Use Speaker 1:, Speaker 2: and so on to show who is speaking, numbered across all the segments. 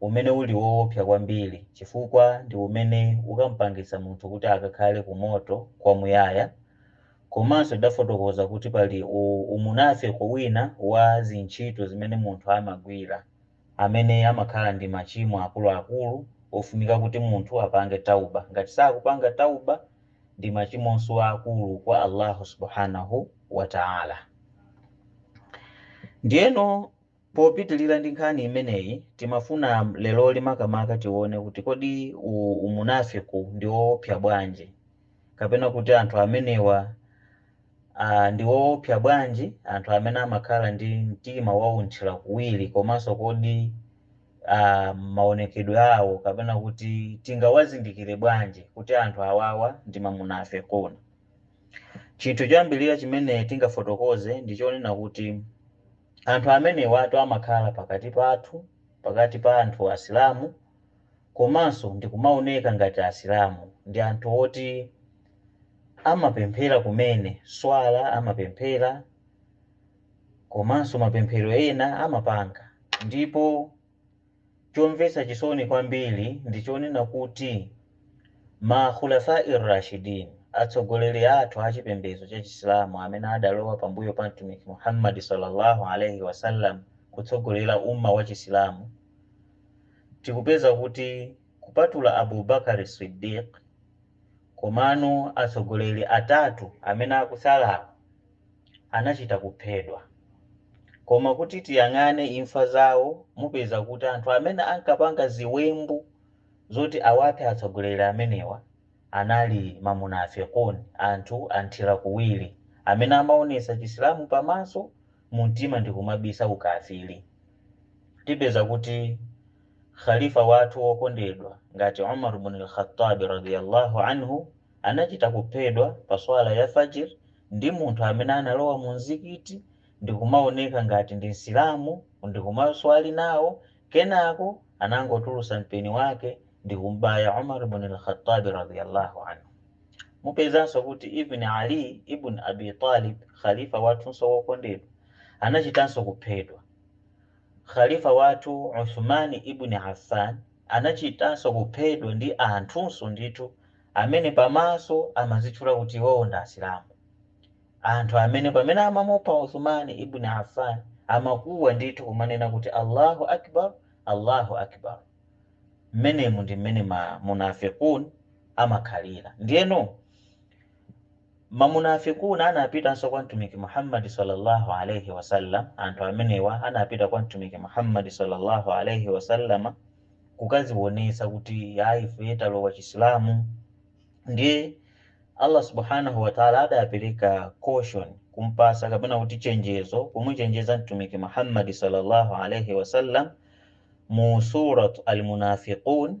Speaker 1: umene uli woopsa kwambiri chifukwa ndi umene ukam'pangitsa munthu kuti akakhale ku moto kwamuyaya. Komanso tidafotokoza kuti pali umunafiki wina wa zintchito zimene munthu amagwira amene amakhala ndi machimo akuluakulu ofunika kuti munthu apange tawba, ngati sakupanga tawba ndi machimonso aakulu kwa Allahu Subhaanah wa Ta'ala. Ndiyeno Popitilira ndi nkhani imeneyi, timafuna leroli makamaka tione kuti kodi u umunafiq u ndi woopsa bwanji, kapena kuti anthu amenewa a ndi oopsa bwanji anthu amene amakhala ndi mtima wa unthilakuwiri komanso kodi a maonekedwe awo kapena kuti tingawazindikire bwanji kuti anthu awawa ndi mamunafiqun. Chinthu choyambilira chimene tingafotokoze ndi chonena kuti. Anthu amenewatu amakhala pakati pathu, pakati pa anthu asilamu, komanso ndikumaoneka ngati asilamu, ndi anthu oti amapemphera kumene, swala amapemphera, komanso mapemphero ena amapanga, ndipo Chomvetsa chisoni kwambiri ndi chonena kuti ma Khulafa-ir-rashidin, atsogoleri athu a chipembedzo cha Chisilamu amene adalowa pambuyo pa Mtumiki Muhammad sallallâhu alaihi wa sallam kutsogolera Ummah wa Chisilamu, tikupeza kuti kupatula Abu Bakr as-Siddiq, komano atsogoleri atatu amene akutsalawa, anachita kuphedwa. Koma kuti tiyang'ane imfa zawo mupeza kuti anthu amene ankapanga ziwembu zoti awaphe atsogoleri amenewa anali ma munafiqun, anthu anthira kuwiri, amene amaonetsa Chisilamu pamaso, mumtima ndikumabisa ukafiri. Tipeza kuti Khalifa wathu wokondedwa ngati Umar bun Al-Khattab radiyallâhu anhu anachita kuphedwa pa Swala ya Fajr ndi munthu amene analowa mu mzikiti ndikumaoneka ngati ndi Msilamu ndikumaswali nawo kenako anangotulusa mpeni wake ndikum'baya Umar ibn al-Khattab radhia Allah anhu. Mupezanso kuti even Ali ibn Abi Talib, Khalifa wathunso wokondedwa, anachitanso kuphedwa. Khalifa wathu Uthman Ibn Affan anachitanso kuphedwa ndi anthunso ndithu amene pamaso amazitchula kuti iwowo ndi Asilamu. Anthu amene pamene amamupha Uthman Ibn Affan amakuwa ndithu kumanena kuti Allahu Akbar, Allahu Akbar. Mmenemo ndi mmene ma munafiqun amakhalira. Ndiyeno. Ma munafikun anapitanso kwa Mtumiki Muhammad sallallâhu alaihi wa sallam, anthu amenewa anapita kwa Mtumiki Muhammad sallallâhu alaihi wa sallam kukadzionetsa kuti iyayi ife talowa Chisilamu. Ndiye Allah subhânahu wa ta'âlâ adapereka caution, kumpatsa kapena kuti chenjezo, kumuchenjeza Mtumiki Muhammad sallallâhu alaihi wa sallam mu Surat Al Munafiqun,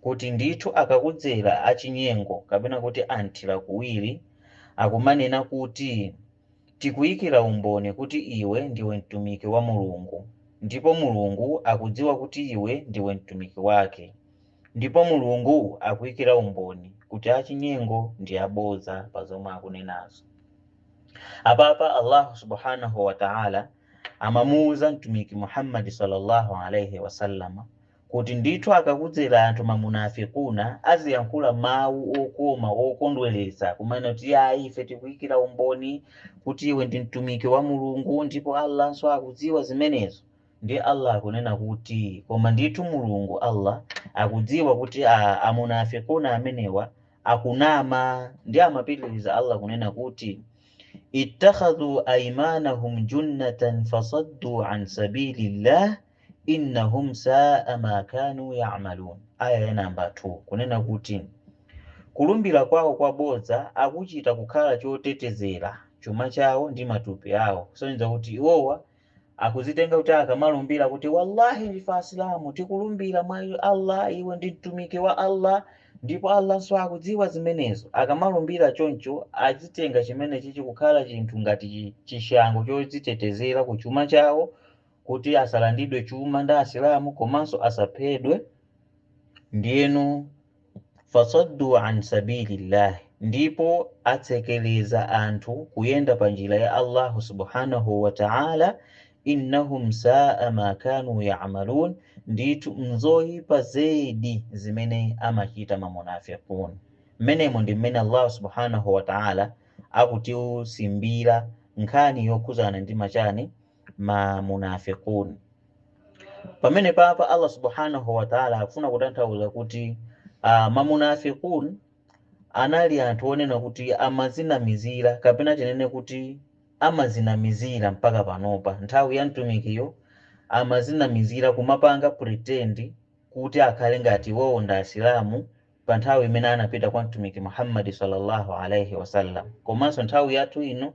Speaker 1: kuti ndithu akakudzera achinyengo kapena kuti anthira kuwiri akumanena kuti, Tikuyikira umboni kuti iwe ndiwe Mtumiki wa Mulungu, ndipo Mulungu akudziwa kuti iwe ndiwe Mtumiki wake, ndipo Mulungu akuyikira umboni kuti achinyengo ndi abodza pa zomwe akunenazo. Apapa Allahu subhanahu wa ta'ala amamuwuza Mtumiki Muhammad sallallâhu alaihi wa sallam Kuti ndithu akakudzera anthu ma munafikuna adzayankhula mawu okoma okondweretsa kumanena kuti iyayi ife tikuikira umboni kuti iwe ndi Mtumiki wa Mulungu ndipo Allanso akudziwa zimenezo. Ndiye Allah akunena kuti, Koma ndithu Mulungu, Allah, akudziwa kuti a a munafikuna amenewa akunama ndiye amapitiriza Allah kunena kuti, Ittakhadhu aimanahum junnatan fasaddu an sabilillah, innahum saa ma kanu yamalun, Aya ya number 2, kunena kuti kulumbira kwawo kwa bodza akuchita kukhala chotetezera chuma chawo ndi matupi awo, kusonyeza kuti iwowa akudzitenga kuti akamalumbira kuti wallahi ndife Asilamu, tikulumbira mwa Allah, iwe ndi mtumiki wa Allah, ndipo Allahnso akudziwa zimenezo, akamalumbira choncho azitenga chimenechichi kukhala chinthu ngati chishango chodzitetezera ku chuma chawo kuti asalandidwe chuma ndi Asilamu komanso asaphedwe, ndiyeno fasaddu an sabilillah ndipo atsekereza anthu kuyenda pa njira ya Allahu subhanahu wa ta'âlâ, innahum sa'a ma kanu ya'malun ndithu n'zoipa zedi zimene amachita ma munafiqun. Mmenemo ndi mmene Allahu subhanahu wa ta'âlâ akutiusimbira nkhani yokhudzana ndi ma chani? ma munafiqun. Pamenepapa Allah subhanahu wa ta'ala akufuna kutanthauza kuti uh, ma munafiqun anali anthu onena kuti amadzinamizira kapena tinene kuti amadzinamizira mpaka panopa nthawi ya mtumikiyo amadzinamizira kumapanga pretend kuti akhale ngati iwowo ndi asilamu pa nthawi imene anapita kwa Mtumiki Muhammad sallallahu alaihi wasallam, komanso nthawi yathu ino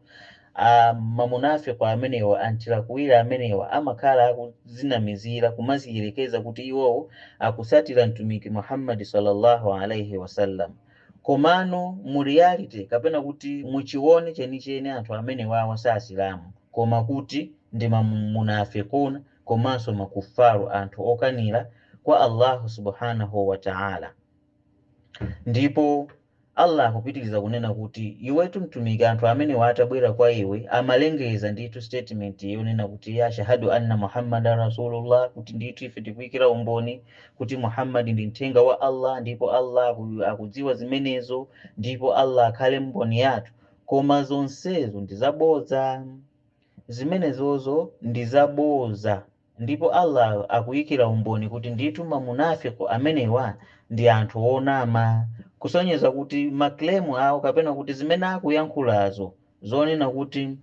Speaker 1: a mamunafiq amenewa anthirakuwiri amenewa amakhala akudzinamizira kumadziyerekeza kuti iwowo akutsatira Mtumiki Muhammad sallallahu alaihi wasallam, komano mu reality kapena kuti mu chiwone chenicheni anthu amenewawa si Asilamu koma kuti ndi ma munafiquna. komanso makuffaru, anthu okanira, kwa Allahu subhanahu wa ta'âlâ. Ndipo Allah akupitiriza kunena kuti, Iwetu Mtumiki anthu amenewa atabwera kwa iwe amalengeza ndithu statement yonena kuti, Nashhadu anna Muhammadan rasulullah, kuti ndithu ife tikuikira umboni kuti Muhammad ndi mthenga wa Allah ndipo Allah akudziwa zimenezo ndipo Allah akhale mboni yathu. Koma zonsezo ndi zabodza. Zimenezozo ndi za bodza ndipo Allah akuikira umboni kuti ndithu ma munaafiq amenewa ndi anthu onama, kusonyeza kuti ma claim awo kapena kuti zimene akuyankhulazo zonena kuti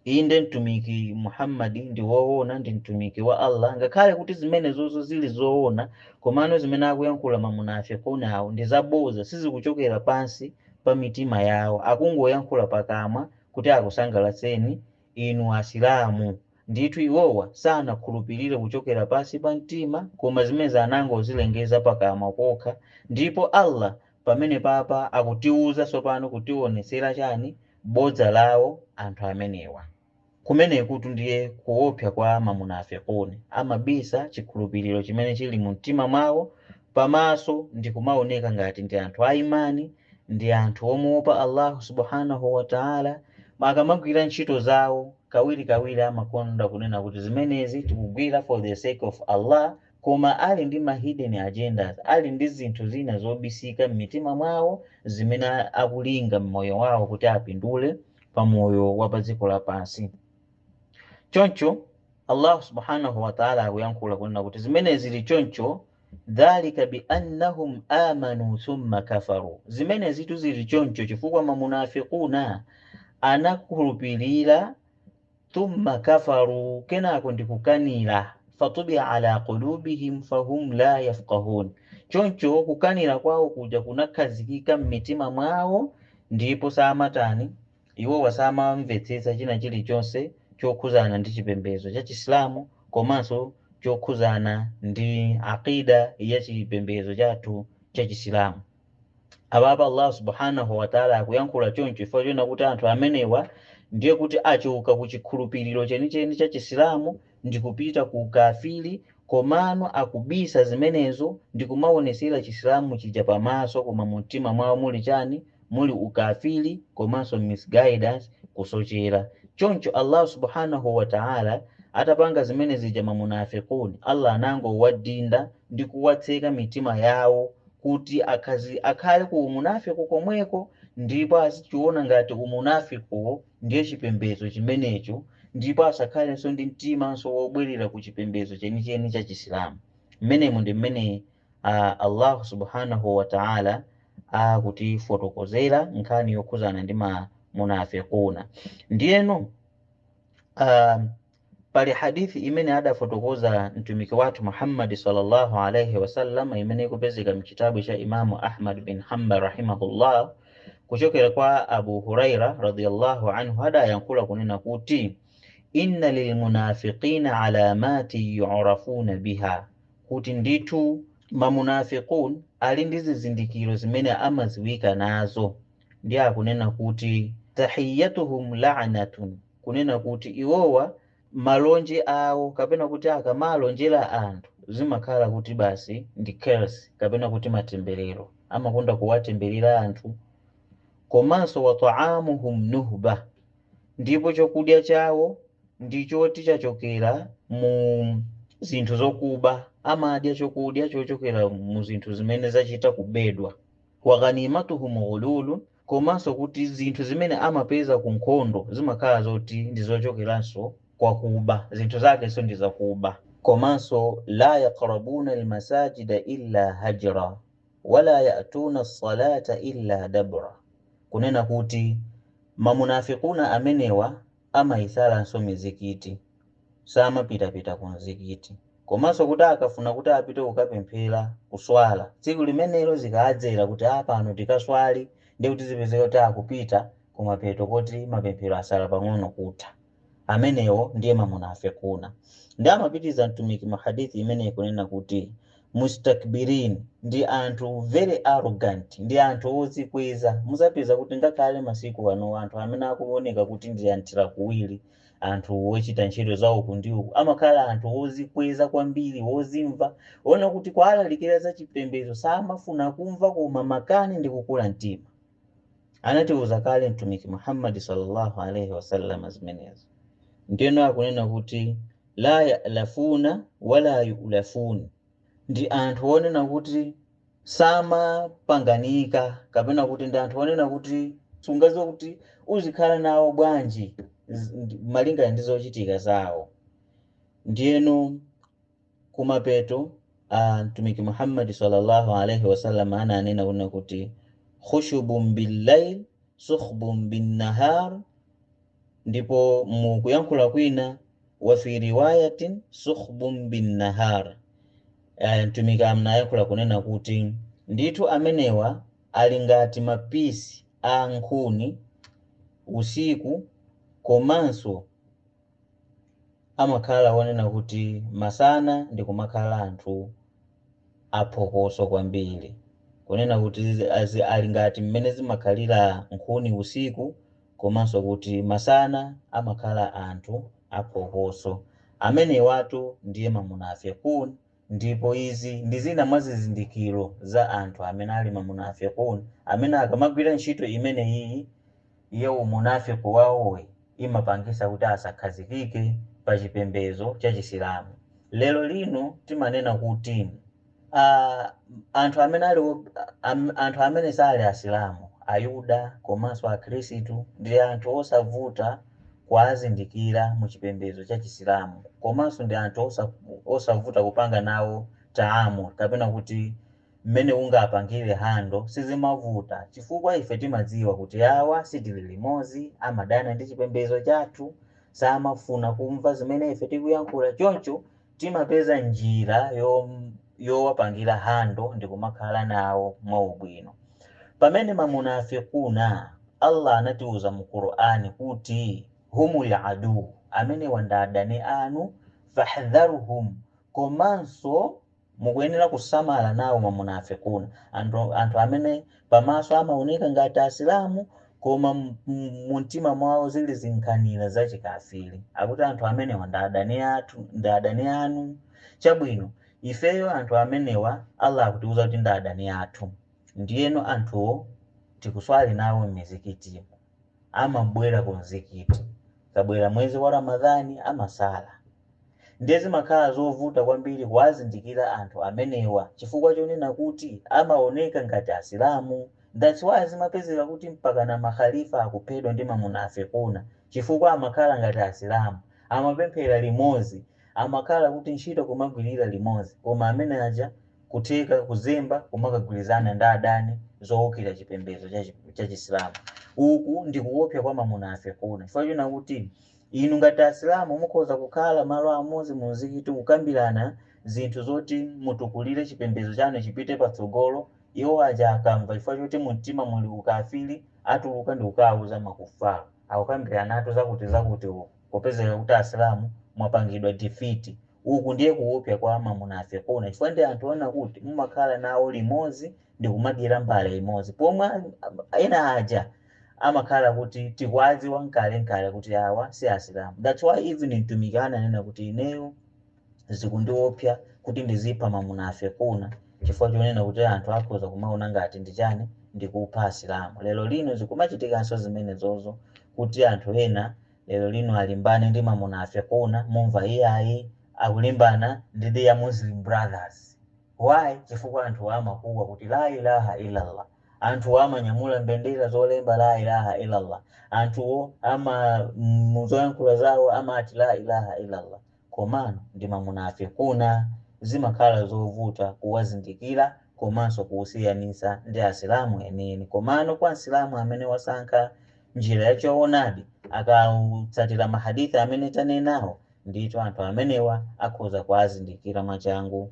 Speaker 1: inde Mtumiki Muhammad ndi woona ndi Mtumiki wa Allah, ngakhale kuti zimenezozo zili zoona komano zimene akuyankhula ma munaafiqun awo ndi za bodza sizikuchokera pansi pa mitima yawo, akungoyankhula pakamwa kuti akusangalatseni inu Asilamu. Ndithu iwowa sanakhulupirire kuchokera pansi pa mtima koma zimenezi anangozilengeza pakamwa pokha. Ndipo Allah pamenepapa akutiuza tsopano kutionetsera chani? Bodza lawo anthu amenewa. Kumenekutu ndiye kuopsa kwa ma munafiqun, amabisa chikhulupiriro chimene chili mu mtima mwawo pamaso ndikumaoneka ngati ndi anthu a iman, ndi anthu omuopa Allahu subhanahu wa ta'âlâ akamagwira ntchito zawo, kawirikawiri amakonda kunena kuti zimenezi tikugwira for the sake of Allah, koma ali ndi ma hidden agendas, ali ndi zinthu zina zobisika m'mitima mwawo zimene akulinga m'moyo wawo kuti apindule pa moyo wa pa dziko lapansi. Choncho, Allahu subhanahu wa ta'ala akuyankhula kunena kuti zimenezi zili choncho dhalika bi annahum amanu thumma kafaru. Zimenezitu zili choncho chifukwa mamunafiquna anakhulupirira thumma kafaru kenako ndikukanira fatubia ala qulubihim fahum la yafqahun. Choncho kukanira kwawo kuja kunakhazikika m'mitima mwawo ndipo samatani? Iwowa samamvetsetsa china chilichonse chokhuzana ndi chipembezo cha chisilamu komanso chokhuzana ndi Aqeeda ya chipembezo chathu cha chisilamu. Apapa Allah Subhaanah wa Ta'la akuyankhula choncho chifukwa chonena kuti anthu amenewa ndiye kuti achoka ku chikhulupiliro chenicheni cha chisilamu ndikupita ku ukafiri komano akubisa zimenezo ndikumaonesera chisilamu chija pamaso koma mumtima mwawo muli chani? muli ukafiri komanso misguidance, kusochera. Choncho Allahu subhanahu wa ta'ala atapanga zimene zija ma munafiqun, Allah anangowadinda ndi kuwatseka mitima yawo kuti akhale ku umunafiq komweko ndipo azichiona ngati umunafiqwo ndiye chipembedzo chimenecho ndipo asakhalenso ndi mtimanso wobwerera ku chipembedzo chenicheni cha Chisilamu. Mmenemo ndi mmene Allahu subhanahu wa ta'ala akutifotokozera nkhani yokhudzana ndi ma munafiquna. Ndiyeno. Pali hadithi imene adafotokoza Mtumiki wathu Muhammad sallallahu alaihi wasallam imene ikupezeka mchitabu cha Imamu Ahmad bin Hanbal rahimahullah kuchokera kwa Abu Huraira radhiyallahu anhu adayankhula kunena kuti inna lilmunafiqina alamati yurafuna biha, kuti ndithu mamunafiqun ali ndi zizindikiro zimene amadziwika nazo, ndiye akunena kuti tahiyyatuhum la'natun, kunena kuti iwowa malonje awo kapena kuti akamalonjera anthu zimakhala kuti basi ndi curse kapena kuti matemberero, amakonda kuwatemberera anthu. Komanso wa ta'amuhum nuhba, ndipo chakudya chawo ndi choti chachokera mu zinthu zokuba, amadya chokudya chochokera mu zinthu zimene zachita kubedwa. Wa ghanimatuhum ghululun, komanso kuti zinthu zimene amapeza ku nkhondo zimakhala zoti ndi zochokeranso kwa kuba, zinthu zakenso ndi zakuba. Komanso laa yaqrabuna almasajida illa hajra wala yatuna alsalata illa dabra, kunena kuti mamunafiquna amenewa amayisalanso mizikiti, samapitapita ku mzikiti, komanso kuti akafuna kuti apite kukapemphera, kuswala, tsiku limenelo zikaadzera kuti aah pano tikaswali ndiye kuti zipezeka kuti akupita kumapeto koti mapemphero asala pang'ono kutha, amenewo ndiye mamunafikuna. Ndiye amapitiriza Mtumiki mu hadith imeneyi kunena kuti. mustakbirin, ndi anthu very arrogant, ndi anthu odzikweza. Mudzapeza kuti ngakhale masiku anowa anthu amene akuoneka kuti ndi anthirakuwiri, anthu ochita ntchito za uku ndi uku, amakhala anthu odzikweza kwambiri, odzimva, oona kuti kuwalalikira za chipembedzo samafuna kumva koma makani ndi kukula mtima. Anatiuza kale Mtumiki Muhammad sallallahu alaihi wasallam zimenezo, ndeno akunena kuti la ya'lafuna wala yu'lafun, ndi anthu onena kuti samapanganika kapena kuti ndi anthu onena kuti sungaziwe kuti uzikhala nawo bwanji malingana ndi zochitika zawo ndiyeno Kumapeto a Mtumiki Muhammad salla Allah alaih wasallam ananena kunena kuti, Khushubun bil lail, sukhbun bin nahar, ndipo mu kuyankhula kwina, wa fi riwayatin, sukhbun bin nahar, a, Mtumiki anayankhula kunena kuti, anthu amenewa ali ngati ma piece a nkhuni usiku komanso. amakhala onena kuti masana ndi kumakhala anthu aphokoso kwambiri, kunena kuti ali ngati mmene zimakhalira nkhuni usiku komanso kuti masana amakhala anthu aphokoso. Amenewatu ndiye Mamunafikoon. Ndipo izi ndi zina mwa zizindikiro za anthu amene ali ma munafiqun amene akamagwira ntchito imeneyiyi ya umunafiq wawoyo imapangisa kuti asakhazikike pa chipembezo cha Chisilamu. Lero lino timanena kuti, Ah, anthu amene ali, ah, anthu amene sali Asilamu, Ayuda komanso Akhristu ndi anthu osavuta. kuwazindikira mu chipembedzo cha chisilamu komanso ndi anthu osa, osavuta kupanga nawo taamul kapena kuti mmene ungapangire hando sizimavuta chifukwa ife timadziwa kuti awa sitili limodzi amadana ndi chipembedzo chathu samafuna kumva zimene ife tikuyankhula choncho Timapeza njira yowapangira handle ndikumakhala nawo mwaubwino. Pamene ma munaafiquna, Allah anatiuza mu Qur'an kuti humul aduwwu, amenewa ndi adani anu, fahdharhum, komanso mukuyenera kusamala nawo ma munaafiquna, anthu amene pamaso amaoneka ngati asilamu Koma mumtima mwawo zili zinkhanira za chikafiri. Akuti anthu amenewa ndi adani athu, ndi adani anu. Chabwino, ifeyo anthu amenewa Allah akutiuza kuti ndi adani athu. Ndiyeno anthuwo tikuswali nawo mmizikitimu. Amabwera ku mzikiti. Ukabwera mwezi wa Ramadhan amasala. Ndiye zimakhala zovuta kwambiri kuwazindikira anthu amenewa chifukwa chonena kuti amaoneka ngati Asilamu. That's why zimapezeka kuti mpakana ma Khalifa akuphedwa ndi ma Munafiquna chifukwa amakhala ngati Asilamu, amapemphera limodzi, amakhala kuti ntchito kumagwirira limodzi koma amene aja kutheka kuzemba kumakagwirizana ndi adani zoukira chipembedzo cha Chisilamu. Uku ndi kuopsa kwa ma Munafiquna chifukwa chonena kuti. Inu ngati asilamu mukhoza kukhala malo amodzi mu mzikiti kukambirana zinthu zoti mutukulire chipembedzo chanu chipite patsogolo, iwo aja akamva chifukwa choti mu mtima muli ukafiri atuluka ndikukauza ma kuffar, akukambiranatu zakuti zakuti uku, popezeka kuti asilamu mwapangidwa defeat. Uku ndiye kuwopsa kwa ma munafiqun chifukwa ndi anthu ona kuti mumakhala nawo limodzi ndikumadyera mbale imodzi pomwe ena aja amakhala kuti tikuwadziwa nkalenkale kuti awa si asilamu that's why even mtumiki ananena kuti ineyo zikundiopsa kuti ndizipha mamunafikuna chifukwa chonena kuti anthu akhoza kumaona ngati ndi chani ndikupha asilamu lero lino zikumachitikanso zimenezozo kuti anthu ena lero lino akalimbana ndi mamunafikuna mumamva iyayi akulimbana ndi their muslim brothers why chifukwa anthu amakuwa kuti la ilaha illallah Anthuwa amanyamula mbendera zolemba Laa ilaaha Illallah, anthuwo ama mu zoyankhula zawo amati Laa ilaaha Illallah komano ndi ma munaafiquuna, zimakhala zovuta kuwazindikira komanso kuwasiyanitsa ndi Asilamu enieni. Komano kwa Msilamu amene wasankha njira ya choonadi akatsatira ma hadith amene tanenawo, ndithu anthu amenewa akhoza kuazindikira mwachangu